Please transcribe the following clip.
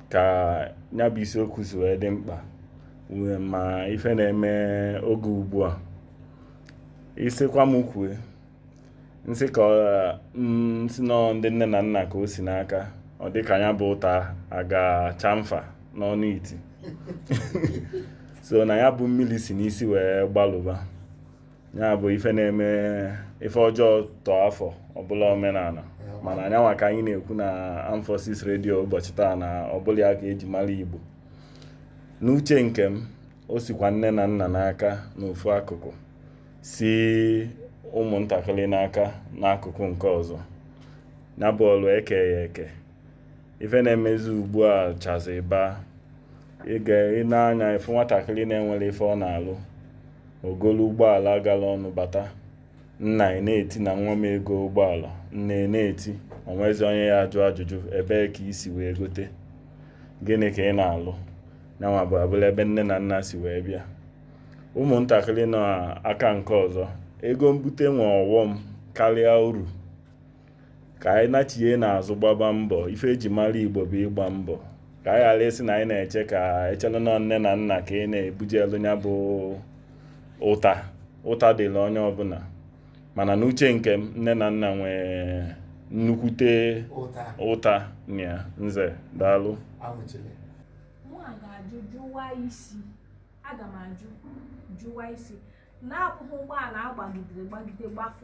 ka nya bụ isiokwu si wee dị mkpa ị ma ife na-eme oge ugbu a ị sikwa m kwue m sị ka m sị na ọ ndị nne na nna ka o si n'aka ọ dị ka nya bụ ụta aga chamfa n'ọnụ iti so na ya bụ mmili si n'isi wee gbalụba ya bụ ife na-eme ife ọjọọ tọọ afọ ọ bụlụ omenala mana nyanwa ka anyị na-ekwu na Armed Forces Radio ụbọchị taa na ọ bụrọ ya ka eji mara Igbo n'uche nke m o sikwa nne na nna n'aka n'ofu akụkụ si ụmụntakịrị n'aka n'akụkụ nke ọzọ ya bụ ọlụ e kee ya eke ife na-emezi ugbu a chazi bụ ị nee anya ị fụ nwatakịrị na-enwerọ ife ọ na-alụ o golu ụgbọala gala ọnụ bata nna a na-eti na nwa m egoo ụgbọala nne a na-eti o nwezi onye ya-ajụ ajụjụ ebee ka i si wee gote gịnị ka ị na-alụ nyanwa bụ abụlụ ebe nne na nna si wee bịa ụmụntakịrị n'aka nke ọzọ ego mbute nwe ọghọm karịa uru ka anyị nachie n'azụ gbaba mbọ ife eji mara Igbo bụ ịgba mbọ ka anyị ghara ịsị na anyị na-eche ka e chelụ na ọ nne na nna ka ị na-ebujelu nya bụ ụta ụta dịrị onye ọbụla mana n'uche nke m nne na nna nwee nnukwute ụta na nze daalụ aga m ajụ jụwa isi na-abụghị ụgbọala agbagidere gbagide gbafọ